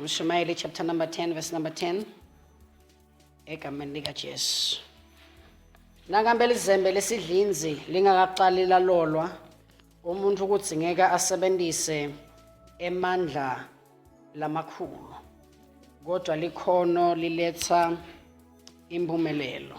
Mshumayeli chapter number 10 verse number 10 egameni likaJesu. Nakambe lizembe lesidlinzi lingakaqali lalolwa umuntu ukuthi ngeke asebenzise emandla lamakhulu kodwa likhono liletha impumelelo.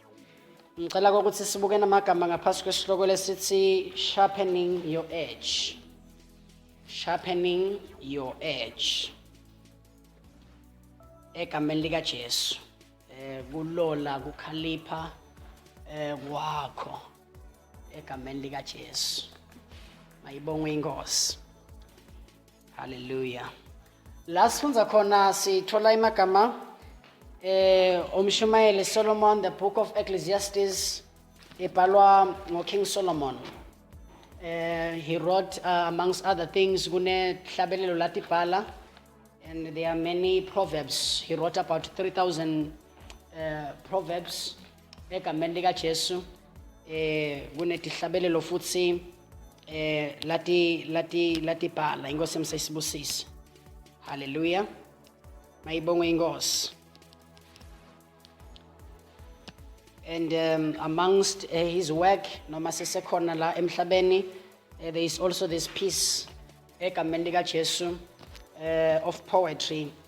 Ngicela ukuthi sibuke namagama ngaphasi kwesihloko lesithi sharpening your edge. Sharpening your edge. Egameni lika Jesu. Eh kulola kukhalipha eh kwakho. egameni likaJesu mayibongwe inkosi haleluya la sifunza khona sithola imagama eh umshumayeli Solomon the book of Ecclesiastes ebhalwa ngoKing Solomon uh, he wrote uh, amongst other things kunehlabelelo latibhala and there are many proverbs he wrote about 3000 uh, proverbs egameni likaJesu eh kunedihlabelelo futhi eh lati lati lati bhala inkosi emsayisibusisi haleluya mayibongwe inkosi and um, amongst uh, his work noma sisekhona la emhlabeni uh, there is also this piece egameni likaJesu uh, of poetry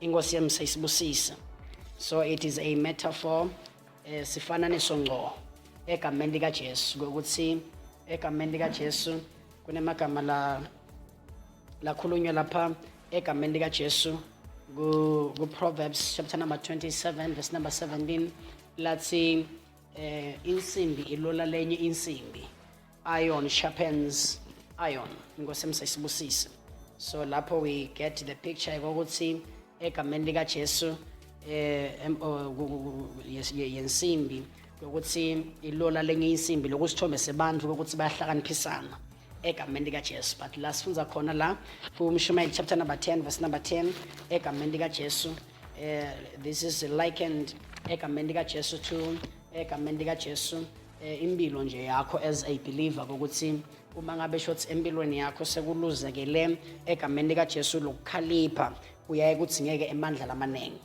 Inkosi yami seyisibusisa. So it is a metaphor eh sifananiso ngqo egameni lika Jesu ukuthi egameni lika Jesu kunemagama la lakhulunywa lapha egameni lika Jesu ku, ku Proverbs chapter number 27 verse number 17 lathi eh insimbi ilola lenye insimbi Iron sharpens iron. Inkosi emsayisibusise. So lapho we get the picture ukuthi egameni lika Jesu eh yensimbi ukuthi ilola lenye insimbi lokusithombe sebantu ukuthi bayahlakaniphisana egameni lika Jesu but la sifunza khona la kuMshumayeli chapter number 10 verse number 10 egameni lika Jesu eh this is likened egameni lika Jesu to egameni lika Jesu eh, impilo nje yakho as a believer ukuthi uma ngabe shothi empilweni yakho sekuluzekele egameni likaJesu lokukhalipha uyaye kuthi ngeke emandla lamaningi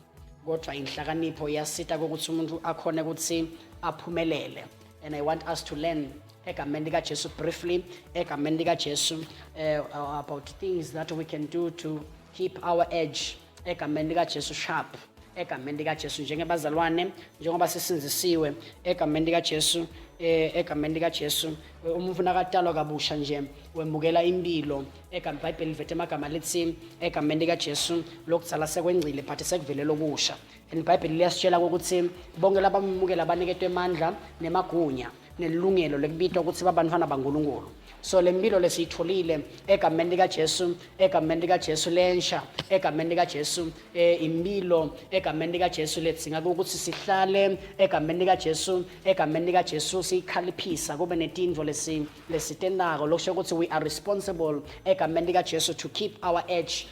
kodwa inhlakanipho iyasita ukuthi umuntu akhone ukuthi aphumelele and i want us to learn egameni likaJesu briefly egameni likaJesu uh, about things that we can do to keep our edge egameni likaJesu sharp egameni likaJesu njengebazalwane njengoba sisinzisiwe egameni likaJesu eh, egameni likaJesu umuntu nakatalwa kabusha nje wemukela impilo egameni iBhayibheli livethe amagama lithi egameni likaJesu lokuzala sekwengcile but sekuvelela okusha and iBhayibheli liyasitshela ukuthi bonke labamukela abaniketwe amandla nemagunya nelungelo lokubitwa ukuthi babantwana baNkulunkulu so le mpilo lesiyitholile egameni likaJesu egameni likaJesu lensha egameni likaJesu eh, impilo egameni likaJesu lethinga ukuthi sihlale egameni likaJesu egameni likaJesu siyikhaliphisa kube netindvo lesi lesitenako lokusho ukuthi we are responsible egameni likaJesu to keep our edge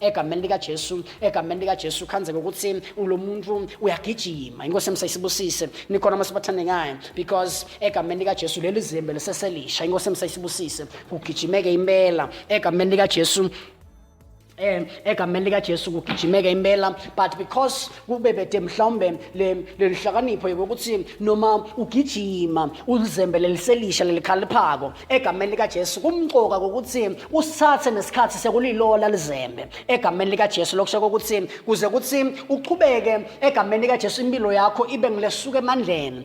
egameni likaJesu egameni likaJesu khanzeke ukuthi ulo muntu uyagijima inkosi emsayisibusise nikhona masibathandekayo because egameni likaJesu leli zimbe liseselisha inkosi emsayisibusise kugijimeke impela egameni likaJesu um egameni likajesu kugijimeka impela but because kube bede mhlawumbe le le nhlakanipho yokuthi noma ugijima ulizembe leliselisha lelikhaliphako egameni likaJesu kumqoka ukuthi usithathe nesikhathi sekulilola lizembe egameni likaJesu lokusho ukuthi kuze kuthi uqhubeke egameni likaJesu impilo yakho ibe ngilesuka emandleni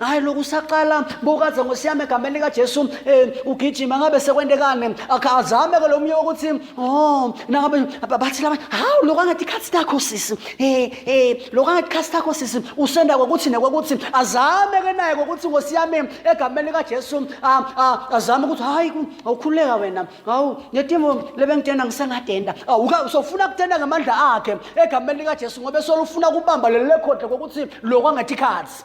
hayi lokhu usaqala bukaze ngosiyami egameni likajesu um ugijima ngabe sekwentekane azame ke lo mnye wokuthi o oh, nangabe bathi labanye hawu lokhu angathi ikhathi takho sisi um um lokhu angathi ikhathi takho sisi usenda kokuthi nekwakuthi azame ke naye kokuthi ngosiyami egameni likajesu azame ukuthi hhayi awukhululeka wena hawu ngetimo lebengitenda ngisengadenda awuka usofuna kutenda ngamandla akhe egameni likajesu ngoba esolufuna kubamba leli lekhodle kokuthi lokhu angathi ikhathi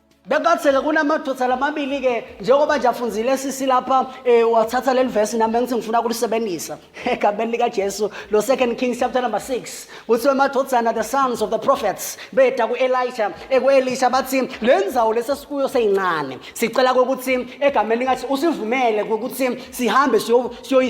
Bekatheke kunamadoda lamabili-ke njengoba nje afunzile sisi lapha um wathatha leli vesi nami bengithi ngifuna ukulisebenzisa egameni likajesu lo second kings chapter number 6 kuthiwe amadodana the sons of the prophets beda ku-elisha eku-elisha bathi le nzawo lesesikuyo seyincane sicela kokuthi egameni likathi usivumele kokuthi sihambe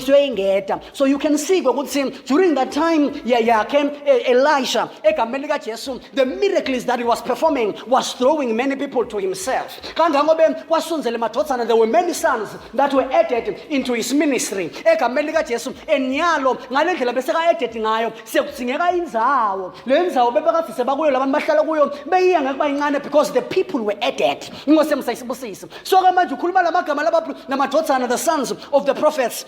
siyoyingeda So you can see ukuthi during that time yayakhe e, Elisha egameni likaJesu the miracles that he was performing was throwing many people to himself. Kangangobe kwasunzele madodana there were many sons that were added into his ministry. Egameni likaJesu enyalo ngalendlela bese ka added ngayo sekudingeka inzawo. Lenzawo bebekafise bakuyo labantu bahlala kuyo beyiya ngeke bayincane because the people were added. Ngose msayisibusisi. So ke manje ukhuluma lamagama lababantu namadodana the sons of the prophets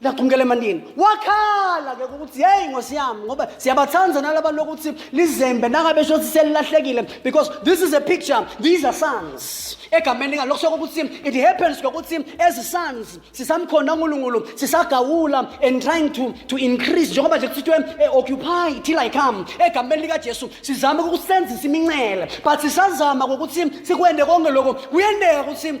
laqhumukela emandini wakhala ke ukuthi yeyi ngosi yami ngoba siyabathanda nalaba lokuthi lizembe nangabe shothi selilahlekile because this is a picture these are sons egameni lingani lokusoko ukuthi it happens ngokuthi as sons sisamkhonda unkulunkulu sisagawula and trying to, to increase njengoba nje kuthithwe eh, occupy till i come egameni likajesu sizame ukusenzisa imincele but sisazama ngokuthi sikwende konke lokho kuyendeka ukuthi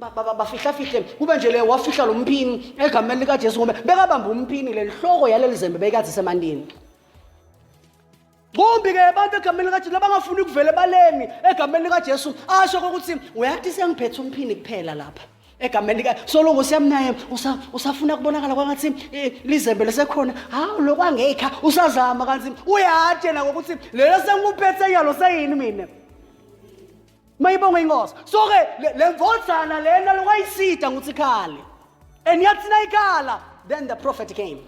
Ba- ba- ba- bafihla-fihle kube nje le wafihla lo mpini egameni likajesu ngoba bekabamba umpini le nhloko yaleli zembe beyikazi semandini kumbi-ke abantu egameni likajesu labangafuni kuvele baleni egameni likajesu asho kokuthi uyathi sengiphethe umphini kuphela lapha egameni lika soloko siyamnaye usa- usafuna kubonakala kwangathi eh, lizembe lesekhona hawu lokwangekha usazama kanti uyathi yena ngokuthi lelo sengikuphethe yalo seyini mina mayibonge inkosi so-ke le- le mvodzana lena lokwayisida ukuthi ikhale and yathi nayikhala then the prophet came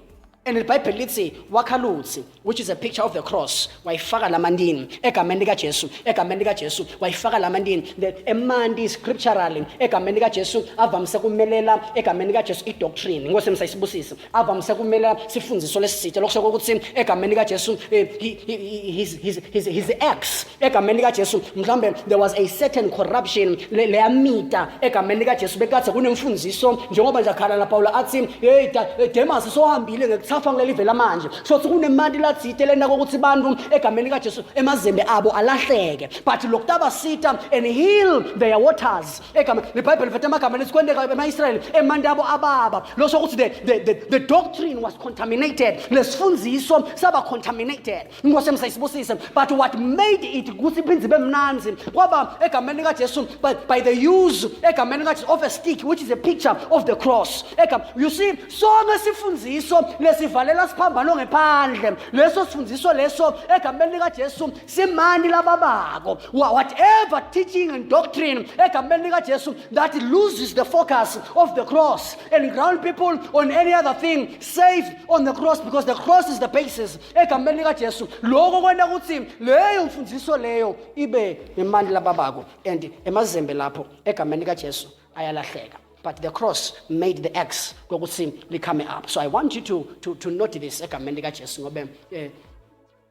and ibhayibheli lithi wakhaluthi which is a picture of the cross wayifaka lamantini egameni likajesu egameni likajesu wayifaka lamantini The- emanti scripturally egameni likajesu avamise kumelela egameni likajesu idoctrine inkosi emsayisibusise avamise kumele sifundiswe lesi sitsha lokusho ukuthi egameni kaJesu eh, he- he- he- his his his his ex egameni likaJesu mhlambe there was a certain corruption le- leyamita egameni likaJesu bekade kunemfundiso njengoba nje akhala la Paulo athi hey da- eh, Demas sohambile ngekuthafa kuleli vela manje so ukuthi kunemali lathite lena kokuthi abantu egameni likaJesu emazembe abo alahleke but lokutaba sita and heal their waters egama nebhayibheli vethe amagama lesikwendeka ema-israyeli emanti abo ababa losho ukuthi the, the, the, the doctrine was contaminated lesifundiso saba contaminated inkosi emsayisibusise but what made it ukuthi iphinde ibe mnanzi kwaba egameni likajesu by, by the use egameni likajesu of a stick which is a picture of the cross Egam, you see sonke sifundiso lesivalela siphambano ngephandle leso sifundiso leso egameni likajesu simani laba bako whatever teaching and doctrine egameni likajesu that loses the focus of the cross and ground people on any other thing safe on the cross because the cross is the basis egameni likajesu loko kwenta ukuthi leyo mfundiso leyo ibe nemani laba bako and emazembe lapho egameni likajesu ayalahleka but the cross made the x kokuthi likhame up so i want you to, to, to note this egameni likajesu ngobe eh,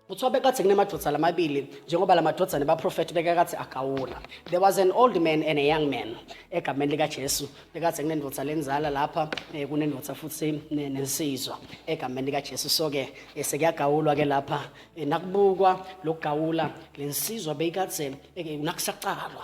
Kuthiwa bekade kunemadodana amabili njengoba la madodana baprofethi bekakade agawula. There was an old man and a young man egameni likaJesu. Bekade kunendoda lenzala lapha eh, kunendoda futhi ne- nensizwa egameni likaJesu. So ke eh, sekuyagawulwa ke lapha eh, nakubukwa lokugawula lensizwa beyikade eh, nakusaqalwa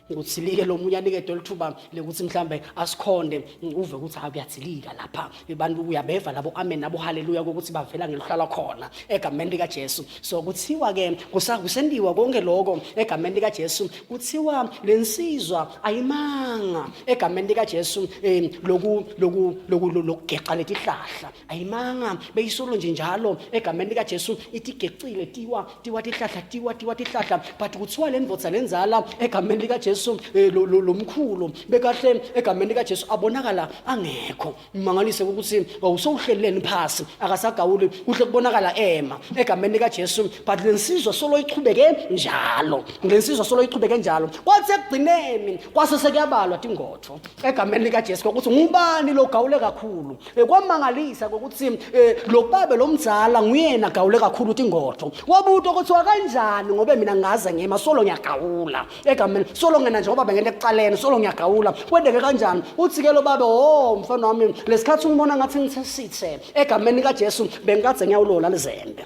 kuthilike lo munye anike dol thuba lekuthi mhlambe asikhonde uve ukuthi hayi kuyathilika lapha abantu uyabeva labo amen nabo haleluya ukuthi bavela ngeluhlala khona egameni lika Jesu so kuthiwa ke kusendiwa konke lokho egameni lika Jesu kuthiwa lensizwa ayimanga egameni lika Jesu eh, loku loku loku lokugexa letihlahla ayimanga beyisolo nje njalo egameni lika Jesu itigecile tiwa tiwa tihlahla tiwa tiwa tihlahla but kuthiwa le ndvodza lenzala egameni likajesu um eh, lo mkhulu bekahle egameni likajesu abonakala angekho mangalise ukuthi wawusowuhleleleni phasi akasagawuli kuhle kubonakala ema egameni likajesu but le nsizwa solo ichubeke njalo le nsizwa solo ichubeke njalo kwathi ekugcineni kwase sekuyabalwa tingotho egameni likajesu kwakuthi ngubani lo gawule kakhulu Eh, kwamangalisa kokuthi eh, lo baba lo mzala nguyena gawule kakhulu ukuthi ingodo wabuto kuthiwa kanjani ngobe mina ngaze ngima solo ngiyagawula egameni solo ngena njengoba bengena ekuqaleni solo ngiyagawula kwendeke kanjani uthi-ke lo baba o mfana wami lesikhathi ungibona ngathi ngithe sithe egameni kajesu bengikade ngiyawulola lizembe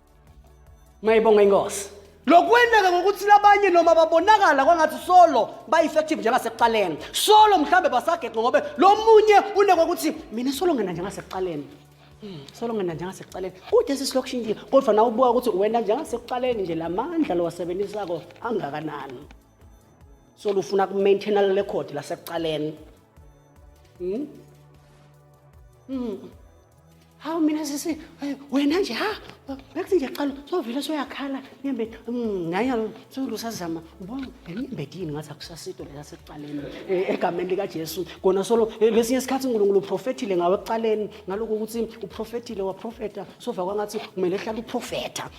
Mayibonga inkosi. Lokwendeka ngokuthi labanye noma babonakala kwangathi solo ba-effective njengasekuqaleni solo mhlawumbe basageqe ngobe lo munye unekwa ukuthi mina solo ngena njengasekuqaleni hmm, solo ngena njengasekuqaleni kude sisilokushintile kodwa na ubuka ukuthi wena njengasekuqaleni nje la mandla lowasebenzisako angakanani solo ufuna ku-maintaina le record lasekuqaleni hmm? Hmm. hawu mina sisi eh, wena nje ha bekuthi nje qala sovele soyakhala nyembedi mm, naye solu sazama ubona nyembedi yini ngathi akusasito lela sekuqaleni eh, egameni likajesu kona solo eh, lesinye isikhathi unkulunkulu uprofethile ngawe ekuqaleni ngaloko ukuthi uprofethile waprofeta sova kwangathi kumele ehlale uprofetha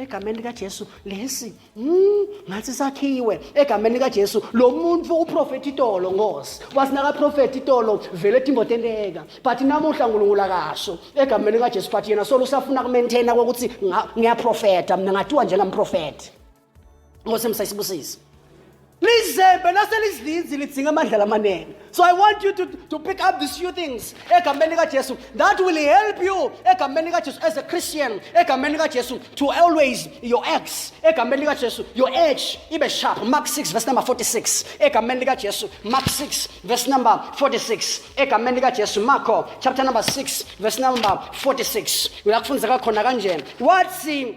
egameni likaJesu lesi mm, ngathi sakhiwe egameni likaJesu lo muntu uprofeti itolo ngosi wasinaka profeti itolo vele timbotenteka but namuhla uNkulunkulu akasho egameni likaJesu but yena solo usafuna kumaintaina ukuthi ngiyaprofeta mina ngatiwa njengamprofeti ngosi msayisibusisi lizembe naselizidlinzi lidzinga amandla lamanene so i want you to, to pick up these few things egameni kajesu that will help you egameni kajesu as a christian egameni kajesu to always your ex egameni kajesu your age ibe sharp mark 6 verse number 46 egameni kajesu mark 6 verse number 46 egameni kajesu marko chapter number 6 verse number 46 uyakufunza kakhona kanjena wathi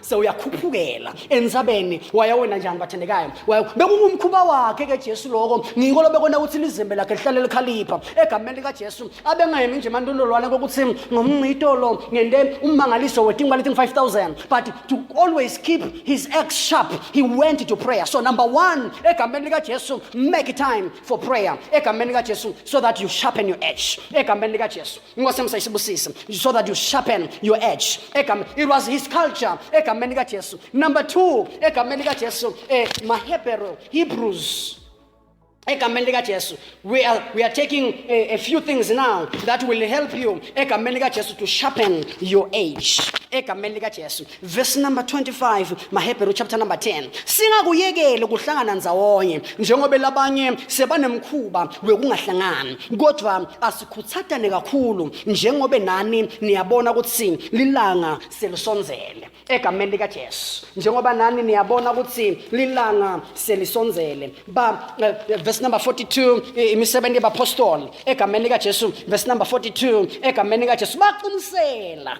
sewuyakhuphukela ensabeni waya wena njani bathandekayo waya bekungumkhuba wakhe ke Jesu lokho ngiko lobekona ukuthi lizembe lakhe lihlale likhalipha egameni lika Jesu abengayemi nje mantondolwana kokuthi ngomncito lo ngende ummangaliso wetingu balethi 5000 but to always keep his ex sharp he went to prayer so number 1 egameni lika Jesu make time for prayer egameni lika Jesu so that you sharpen your edge egameni lika Jesu inkosi yami sayisibusise so that you sharpen your edge Egam, it was his culture egameni likajesu number two egameni likajesu eh, mahebrew hebrews egameni likajesu we are, we are taking a, a few things now that will help you egameni likajesu to sharpen your age egameni likajesu verse number 25 mahebheru chapter number 10 singakuyekeli ukuhlangana nzawonye njengoba labanye sebanemkhuba wekungahlangani kodwa Khuthatane kakhulu njengobe nani niyabona ukuthi lilanga selisonzele egameni lika Jesu njengoba nani niyabona ukuthi lilanga selisonzele ba uh, verse number 42 imisebenzi yabapostoli egameni lika Jesu verse number 42 egameni lika Jesu baqinisela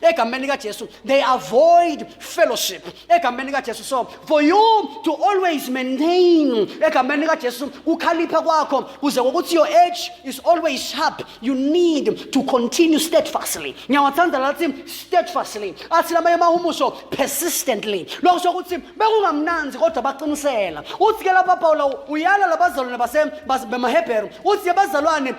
egameni likajesu they avoid fellowship egameni likajesu so for you to always maintain egameni likajesu ukhalipha kwakho kuze kokuthi your edge is always sharp you need to continue steadfastly ngiyawathanda lathi steadfastly athi lamanye amahumusho persistently lokho sokuthi bekungamnanzi kodwa baqinisela uthi ke lapha pawula uyala labazalwane basemaheberu uthi abazalwane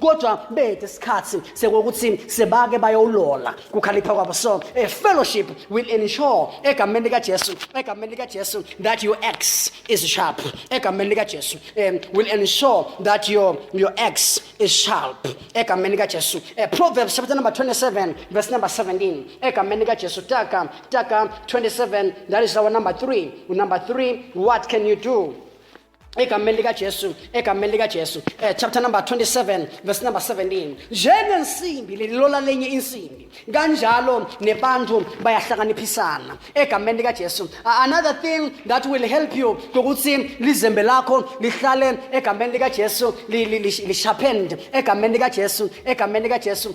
kodwa bethe isikhathi sekokuthi sebake bayowulola kukhalipha kwabo so a fellowship will ensure egameni likajesu egameni likajesu that your ex is sharp egameni likajesu um, will ensure that your, your ex is sharp egameni likajesu uh, proverbs chapter number 27 verse number 17 egameni likajesu taka taka 27 that is our number 3 number 3 what can you do egameni likajesu egameni likajesu um chapter number 27 verse number 17 njengensimbi lelilola lenye insimbi kanjalo nebantu bayahlakaniphisana egameni likajesu another thing that will help you ukuthi lizembe lakho lihlale egameni likajesu lishaphende egameni likajesu egameni likajesu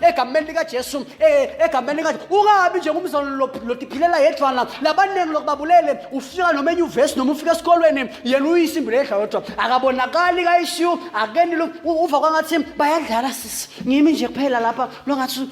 egameni likajesu eh, egameni likajesu ungabi nje ngumzalwane lodiphilela yedwana labaningi lokubabulele ufika noma enyuvesi noma ufika esikolweni yena uyisimbi ledla yodwa akabonakali kayishiyu akeni lo uva kwangathi bayadlala sisi ngimi nje kuphela lapha longathi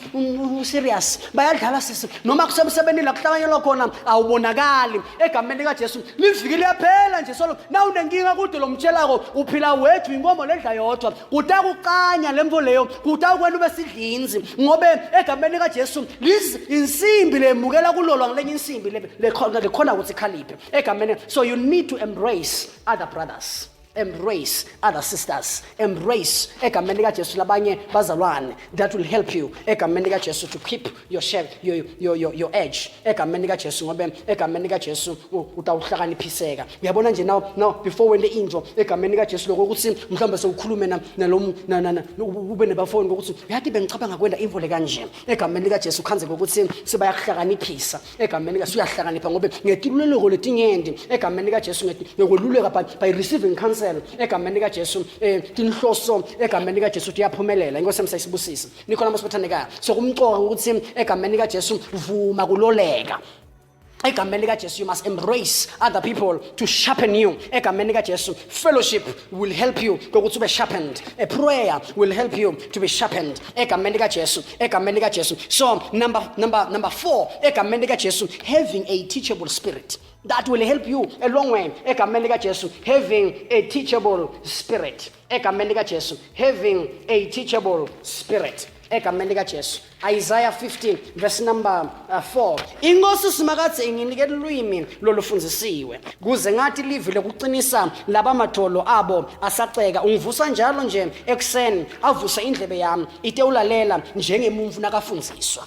userious bayadlala sisi noma kusemsebenzini la kuhlanganyelwa khona awubonakali egameni likajesu liviki liyaphela nje solo na unenkinga kude lomtshelako uphila wedwa inkomo ledla yodwa kutakuqanya lemvo leyo kutawukwenta ube sidlinzi ngobe egameni likajesu liz insimbi lemukela kulolwa ngelenye insimbi lekhona ukuthi ikhaliphe egameni so you need to embrace other brothers embrace other sisters embrace egameni likajesu labanye bazalwane that will help you egameni likajesu to keep your shell your, your, your, your edge egameni likajesu ngoba egameni likajesu utawuhlakaniphiseka uyabona nje now now before wente into egameni likajesu loko ukuthi mhlawumbe sewukhulume nalo ube nebafoni kokuthi uyathi bengicabanga kwenda imvo le kanje egameni likajesu khanze kokuthi sibayakuhlakaniphisa egameni likajesu uyahlakanipha ngoba ngetiluleko letinyendi egameni likajesu ngekweluleka by, by receiving counsel egameni likajesu um tinhloso egameni likajesu tiyaphumelela inkosi yami sayisibusise nikhona masibathandekayo sokumcoka ukuthi egameni likajesu vuma kuloleka egameni likajesu you must embrace other people to sharpen you egameni likajesu fellowship will help you kokuthi ube sharpened a prayer will help you to be sharpened egameni likajesu egameni likajesu so number, number, number four egameni likajesu having a teachable spirit that will help you a long way egameni likajesu having a teachable spirit egameni likajesu having a teachable spirit egameni likajesu isaya 15 verse number uh, 4 inkosi usimakadze inginike lulwimi lolufundisiwe kuze ngathi livi lokuqinisa laba madolo abo asaceka ungivusa njalo nje ekuseni avuse indlebe yami itewulalela njengemumfu nakafundziswa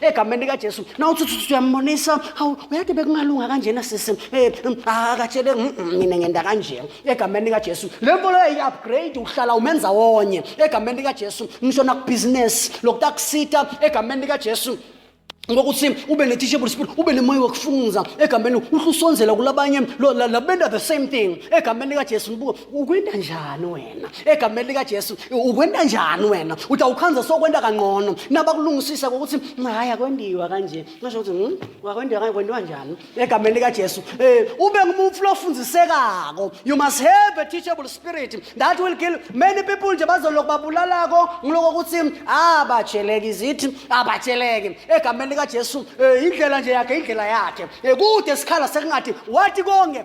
egameni likajesu nawuthuthuthi uyambonisa hawu uyade bekungalunga kanjena sisi um eh, mm, akatshele ah, mm, mm, mina ngenda kanje egameni likajesu le nto leyo yi-upgrade uhlala umenza wonye egameni likajesu ngisho nakubhizinesi lokuthi akusita egameni likajesu ngokuthi ube ne-teachable spirit ube nemoya wokufunza egameni uhlusonzela kulabanye labenda the same thing egameni likajesu ukwenta njani wena egameni likajesu ukwenta njani wena uthi awukhanze sokwenta kangcono nabakulungisisa kokuthi hayi akwendiwa kanje ngasho ukuthi hmm, wakwendiwa kanje kwendiwa njani egameni likajesu um ube ngumufi lofundisekako you must have a teachable spirit that will kill many people nje bazolokhu babulalako ngiloko ukuthi abajeleki zithi abajeleki egameni likajesu um indlela nje yakhe indlela yakhe um kude sikhala sekungathi wathi konke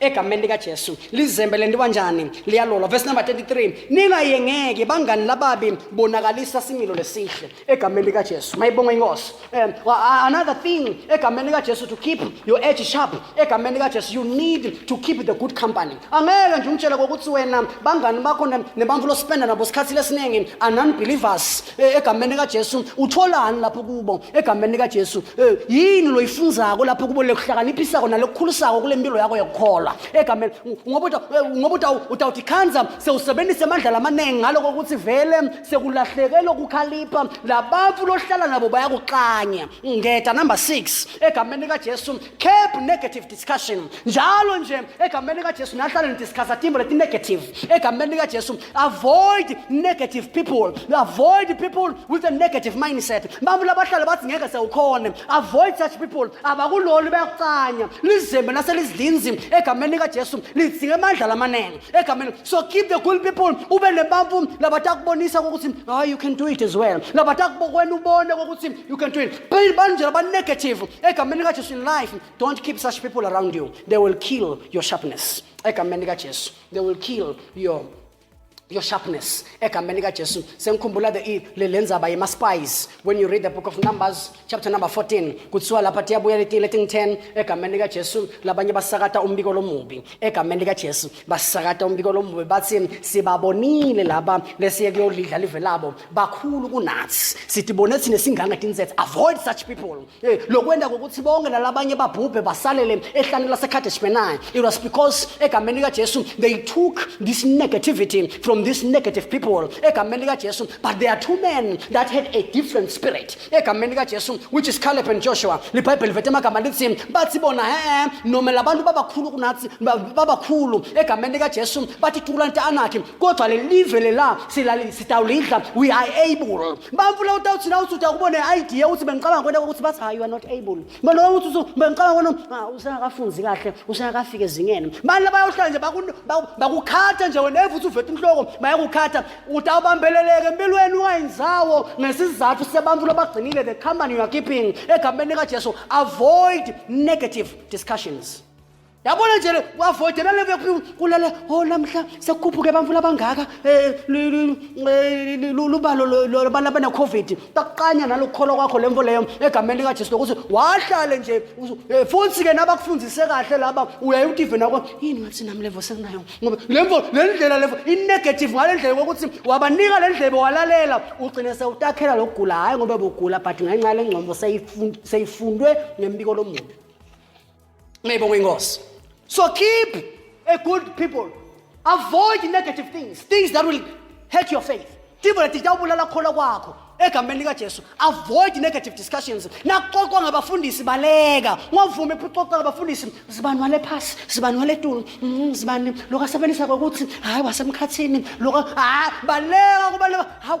egameni likajesu lizembe le nto kanjani liyalolwa verse number 33 ningayengeki bangani lababi bonakalisa similo lesihle egameni likajesu mayibonga inkosi um, another thing egameni likajesu to keep your edge sharp egameni likajesu you need to keep the good company angeke nje umtshela kokuthi wena bangani bakho nebantfu lospenda nabo sikhathi lesiningi anunbelievers Eh, egameni likaJesu utholani lapho kubo egameni likaJesu eh, yini loyifunzako lapho kubo lekuhlakaniphisako nalokukhulisako kule mpilo yakho yokukholwa egameni ngoba eh, ngoba utawuthi khanza sewusebenzise amandla lamaningi ngalo kokuthi vele sekulahleke lokukhalipha labantu lohlala nabo bayakuxanya ngeda number 6 egameni likaJesu Curb negative discussion. Njalo nje egameni lika Jesu nahlale nidiscussa timbo leti negative. Egameni lika Jesu avoid negative people. Avoid people with a negative mindset. Abantu labahlale bathi ngeke sewukhona. Avoid such people. Abakuloli bayakucanya. Lizembe naselizidlinzi egameni lika Jesu lidzinga amandla lamaningi. Egameni so keep the good people ube nebampu labatakubonisa ukuthi hayi you can do it as well. Labatakubona ubone ukuthi you can do it. banjira banegative egameni likajesu in life don't keep such people around you they will kill your sharpness egameni likajesu they will kill your your sharpness egameni likajesu sengikhumbula le ndzaba yema-spies when you read the book of numbers chapter number 14 kuthiwa lapha tiyabuya letile ting 10 egameni likajesu labanye basakata umbiko lomubi egameni likajesu basakata umbiko lomubi bathi sibabonile laba lesiye kuyolidla live labo bakhulu kunathi sithi bona thina singanga tinsethe avoid such people hey, lokwenda kokuthi bonke nalabanye babhubhe basalele ehlane lasecartage benai it was because egameni likajesu they took this negativity from these negative people egameni likajesu but there are two men that had a different spirit egameni likajesu which is caleb and joshua libhayibheli vethe amagama lithi bathi bona he noma labantu babakhulu kunathi babakhulu egameni likajesu bathi tukulanta anakhi kodwa lelive lela silali sitawulidla we are able bamfuna utawuthi na uthi uyakuba ne-idea ukuthi bengicabanga kwena ukuthi bathi hayi you are not able manje uthi uthi bengicabanga kwena ah, usengakafunzi kahle usengakafika ezingeni manje labayohlala nje bakukhatha nje wena evuthi uvethe inhloko bayakukhatha utawubambeleleke empilweni ungayinzawo ngesizathu sebantu lobagcinile the company you are keeping egameni likajesu avoid negative discussions yabona nje wavotela lekulala o oh, namhla sekukhuphuke abantu labangaka um lubalo lwabantu abane-covid takuqanya nalokukholwa kwakho le mfo leyo egameni likajesu lokuthi wahlale nje eh, futhi ke nabakufundise kahle laba uyaye utive nako yini ngathi nami levo senginayo ngoba le mfo le ndlela levo inegative ngale ndlela kokuthi wabanika le ndlebe walalela ugcine sewutakhela lokugula hhayi ngoba bugula but ngenxa yale ngcombo seyifundwe ngembiko lomuntu Ngiyibonga inkosi. So keep a good people. Avoid negative things, things that will hurt your faith. Timo leti tawubulala khona kwakho egameni likaJesu. Avoid negative discussions. Naxoxwa ngabafundisi baleka. Ngavuma ephuxoxa ngabafundisi zibani wale phasi, zibani wale tulo, mm, zibani lokasebenzisa ukuthi hayi wasemkhathini, loka hayi baleka kubaleka. Hawu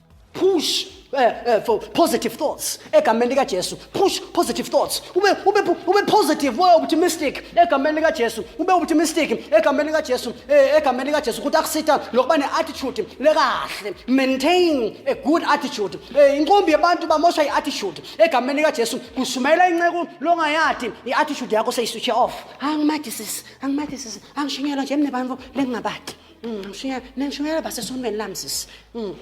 push uh, uh, for positive thoughts egameni likajesu push positive thoughts ube, ube, ube positive ube optimistic egameni likajesu ube optimistic egameni likajesu eh, egameni likajesu ukuthi akusitha lokuba ne-attitude lekahle maintain a good attitude eh, inkumbi yebantu bamosha i-attitude egameni likajesu kushumayela inceku longayadi i-attitude yakho seyiswitshe off angimathi sisi angimathi sisi angishunyelwa nje mnebantu lengingabadi Mm, Mshiya, nangishumela basesontweni lami sisi. Mm,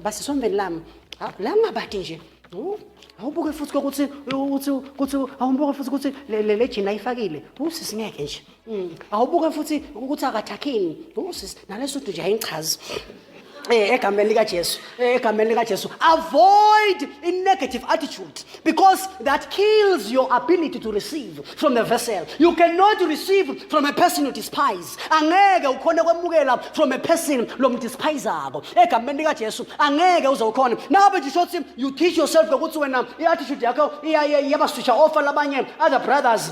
Basesontweni lami. Ha, La ngabadi nje. Wu, Awubuke futhi ukuthi ukuthi ukuthi awubuke futhi ukuthi le le le jini ayifakile. Wu sisi ngeke nje. Mm, Awubuke futhi ukuthi akathakhini. Wu sisi naleso nje ayingichazi. Eh egameni lika Jesu. egameni likajesu avoid i-negative attitude because that kills your ability to receive from the vessel you cannot receive from a person who despise angeke ukhone kwemukela from a person lomdespayizako egameni likajesu angeke uze ukhone nabe nje shothi you teach yourself ngokuthi wena i-attitude yakho iyabaswisha ofa labanye other brothers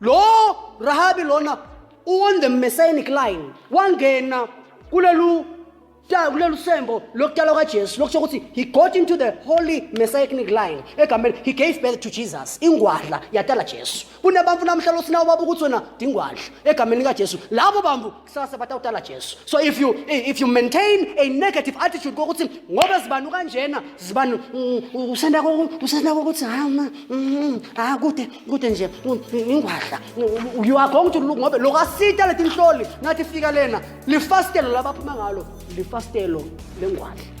lo rahabi lona on the messianic line wangena kulelu ta- kulelu sembo lokutalwa kajesu lokusho ukuthi he got into the holy messianic line egameni he gave birth to jesus ingwadla yatala jesu kunebantu namhla losinawo baba ukuthi wena dingwadla egameni likajesu labo bantu kusasa batawutala Jesu so if you if you maintain a negative attitude kokuthi ngoba zibani kanjena zibani mm, usenda usenda ukuthi ha ma mm, ha kude kude nje ingwadla you are going to look ngoba lokasita letinhloli ngathi fika lena lifastelo labaphuma ngalo lifastelo lengwadla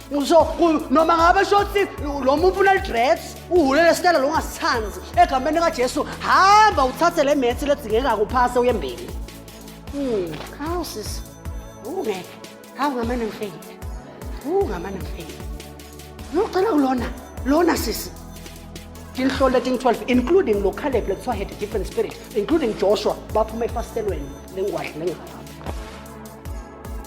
ngisho ku- noma ngabe shoti lo muntu ufuna lidress uhulele sitela lo ngasithandi egameni likajesu hamba uthathe le methi ledzingeka kuphase uye mbili Hmm, hawu sisi ungeke hawu ngamane ngifeyile wu ngamane ngifeyile nocela ulona lona sisi tinhloli leting-12 including lo caleb lekuthiwa had a different spirit including joshua baphuma efasitelweni lengwadla lengaka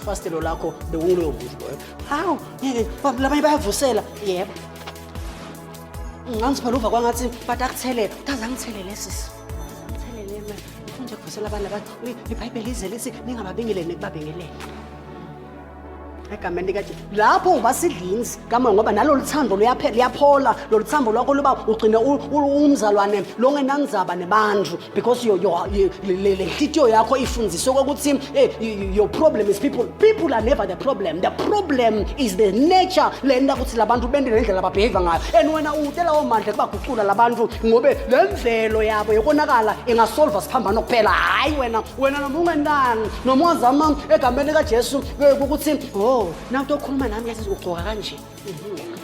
ifastelo lakho bewulo yovuza boy hawu ngeke labanye bayavusela yebo ngangiphela uva kwangathi bathi akuthelele kaze angithelele sisi angithelele ma nje kuvusela abantu abathi ibhayibheli ize lithi ningababingeleli nekubabingelele egameni likajesu lapho uba sidlinzi kama ngoba nalolu thando luyaphela luyaphola lolu thambo lwakho luba ugcine u- u- umzalwane longenanzaba nebantu because yo- yo- yo- le- le le nhliziyo yakho ifundiswe kokuthi eh, y- y- your problem is people people are never the problem the problem is the nature le nto ukuthi labantu bende nendlela ababheheva ngayo and wena uwute lawo mandla kubagucula labantu ngobe le mvelo yabo yokonakala ingasolva siphambano kuphela hhayi wena wena noma ungenani noma ungazama egameni kajesu ukuthi oh nawu tokhuluma nami yazi ugcoka kanje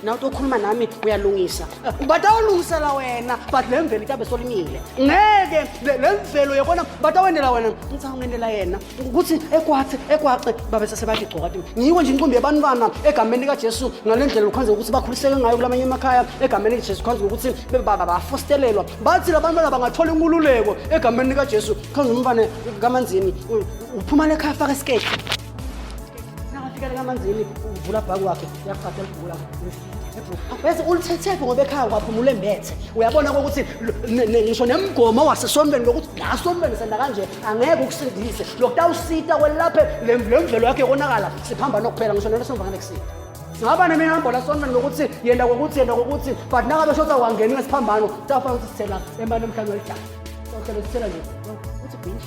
nawu tokhuluma nami uyalungisa batawulungisela wena but le mvelo itabe solimile ngeke le- le mvelo yekona batawendela wena ngisawungendela yena ukuthi ekwathi ekwaxe babe sesebathi gcoka ti ngiyiko nje inqumbi yabantwana egameni likajesu ngale ndlela lukhonze ukuthi bakhuliseke ngayo kulamanye emakhaya egameni likajesu khonze ukuthi be- ba- ba- bafostelelwa bathi labantwana bangathola inkululeko egameni likajesu khonze umfane kamanzini u- uphuma lekhaya afaka isiketi nakafika lekamanzini uvula bhaku wakhe uyaqhatha elibhula bese ulithethephi ngoba ekhaya kwaphumula embethe uyabona kokuthi ngisho nemgomo wasesontweni lokuthi la sontweni senda kanje angeke ukusindise lokutawusita kwelaphe le mvelo yakhe yokonakala siphamba nokuphela ngisho nento somva ngane kusita singaba neminambo la sontweni lokuthi yenda kokuthi yenda kokuthi but nakabe shotha kwangeni ngesiphambano tafana ukuthi sithela emane emhlabeni welidala sohlelo sithela nje uthi bhinji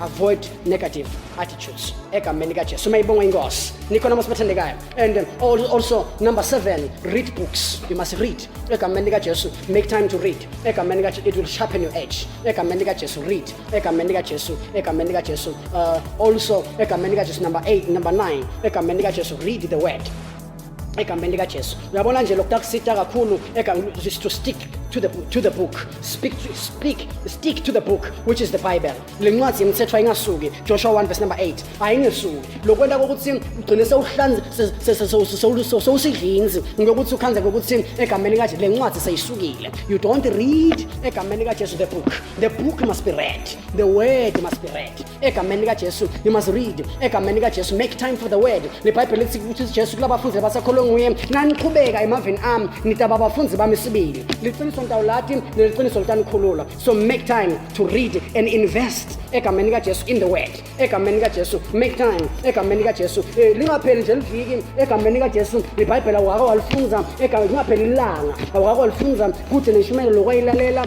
avoid negative attitudes egameni likajesu uma ibongwa inkosi nikhona uma sibathandekayo and um, al- also number seven read books you must read egameni likajesu make time to read egameni likajesu it will sharpen your edge egameni likajesu read egameni likajesu egameni likajesu uh, also egameni likajesu number eight number nine egameni likajesu read the word egameni likajesu uyabona nje lokhu takusita kakhulu is to stick to the, to the book speak, to, speak, stick to the book which is the bible le ncwadi yemithetho ayingasuki joshua 1 verse number 8 ayingesuki lokwenta kokuthi ugcine sewusidlinzi ngokuthi ukhanze kokuthi egameni kaje le ncwadi seyisukile you don't read egameni kajesu the book the book must be read the word must be read egameni likajesu you must read egameni likajesu make time for the word libhayibheli lithi ukuthi jesu kulabafundi labasakholwe nguye naniqhubeka emaveni ami nitaba abafundi bami sibili liqiniso ntawulati neliqiniso litanikhulula so make time to read and invest egameni likajesu in the word egameni likajesu make time egameni likajesu eh, lingapheli nje liviki egameni likajesu libhayibhela waka walifunza lingapheli ilanga waka walifunza kude neshumayelo lokwayilalela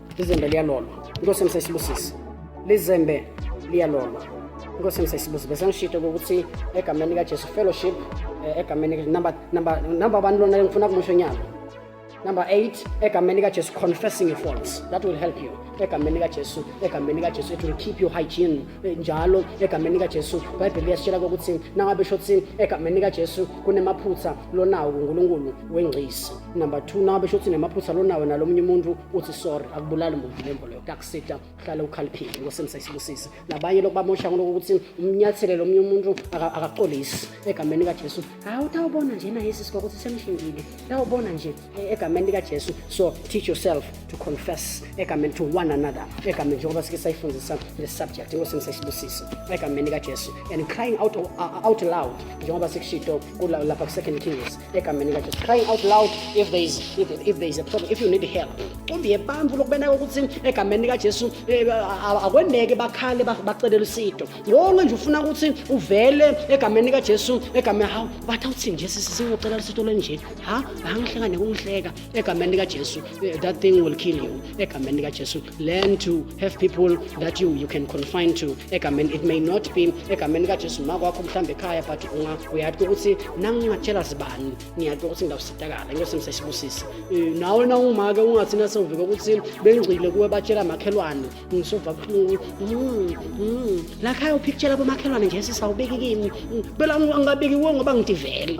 Lizembe liyalolwa. Inkosi yami sesibusise. Lizembe liyalolwa. Inkosi yami sesibusise. Bese ngishito ukuthi egameni lika Jesu fellowship eh, egameni lika number number number abantu lona ngifuna kumusho nyalo. Number 8 egameni lika Jesu confessing your faults. That will help you. Egameni lika Jesu, egameni lika Jesu it will keep you hygiene. Eh, njalo egameni lika Jesu Bible liyasitshela ukuthi nangabe shothi egameni lika Jesu kunemaphutha lonawo uNkulunkulu wengcisi. Number 2 nangabe shothi nemaphutha lonawo nalomunye umuntu uthi sorry akubulali muntu lembo leyo kuyakusita uhlale ukhaliphile inkosi emsayisibusise nabanye lokhu bamosha ngoloko ukuthi umnyathelele omunye umuntu akaxolisi egameni likajesu hawu utawubona nje naye sisi kwakuthi semshingile tawubona nje e, egameni likajesu so teach yourself to confess egameni to one another egameni njengoba sike sayifundisa le subject inkosi emsayisibusise egameni likajesu and crying out, uh, out loud njengoba sikushito lapha ku-second kings egameni likajesu crying out loud if there is, if, if there is a problem if you need help cumbiye bantu lokubeneka ukuthi egameni likajesu eh, akweneke bakhale bacelele usito wonke nje ufuna ukuthi uvele egameni likajesu egameni hawu bathi awuthini nje sisi singocelela usito lenje ha angihleka nekungihleka egameni likajesu eh, that thing will kill you egameni likajesu learn to have people that you, you can confine to egameni it may not be egameni kajesu ma kwakho mhlawumbe ekhaya but uyatho ukuthi nangingatshela zibani ngiyatho ukuthi ngizawusitakala inkosi ngisesibusise eh, nawe nawungumake ungathi nasewuvike ukuthi bengcile kuwe batshela makhelwane ngisova buhlungu hmm, hmm. lakhaya uphikutshela bomakhelwane nje sisawubeki kimi hmm, phela angingabeki kuwe ngoba ngidivele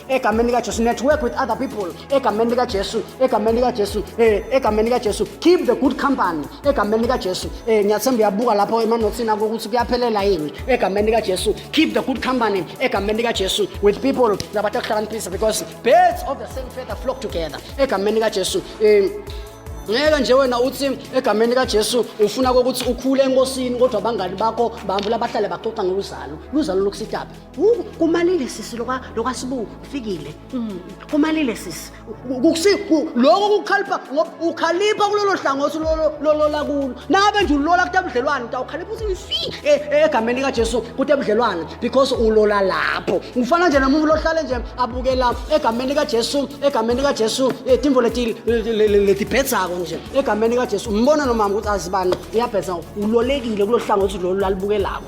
egameni likajesu network with other people egameni likajesu egameni likajesu um eh, egameni likajesu keep the good company egameni likajesu um eh, ngiyathemba uyabuka lapho emanothini ako ukuthi kuyaphelela yini egameni likajesu keep the good company egameni likajesu with people nabantu akuhlakaniphisa because birds of the same feather flock together egameni likajesu um eh, ngeke nje wena uthi egameni likajesu ufuna kokuthi ukhule enkosini kodwa abangani bakho bambula bahlale baxoxa ngoluzalo luzalo lokusitaphi Wu- kumalile sisi lokwa- lokwasibu kufikile Mm, kumalile sisi lokho kukhalipha ngoba ukhalipha kulolo hlangothi lolo- lolola kulo nangabe nje ulola kuta budlelwane utawukhalipha uthi fi e- e- egameni likajesu kuta budlelwane because ulola lapho ngifana nje nomuntu lohlale nje abukela egameni likajesu egameni likajesu eh, timbo leti- le- le- le- letibhedzako nje egameni likajesu umbona nomama ukuthi azibani iyabhedza ulolekile kulo hlangothi lolu lalibukelako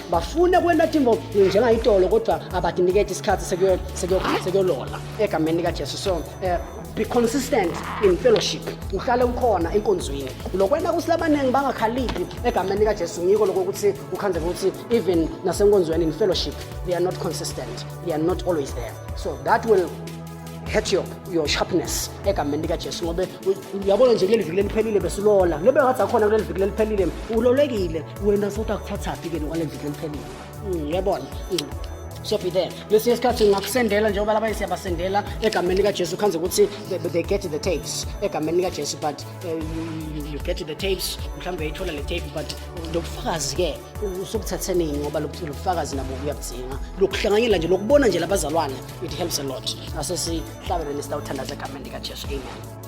bafune kwenta tintfo njengayitolo kodvwa abatiniketi sikhatsi sekuyolola egameni likajesu so um be consistent in fellowship uhlale ukhona enkonzweni lokwenta kuthi labaningi bangakhaliphi egameni likajesu ngiko loko ukuthi kukhandleka ukuthi even nasenkonzweni in fellowship they are not consistent they are not always there so that will catch your, your sharpness egameni likajesu ngoba uyabona nje kuleli viki leliphelile besilola nobe ngathi akhona kuleli viki leliphelile ulolekile wena sokuthi akuthathaphi ke nokwaleli viki leliphelile mm, uyabona mm. so be there lesinye isikhathi ngingakusendela njengoba labanye siyabasendela egameni likajesu khanze ukuthi they get the tapes egameni likajesu but uh, you, you get the tapes mhlawumbe uyayithola le tape but lobufakazi-ke usukuthathenini ngoba lobufakazi nabo kuyabudzinga lokuhlanganyela nje lokubona nje labazalwane it helps a lot asesihlabele nesitawuthandaza egameni likajesu amen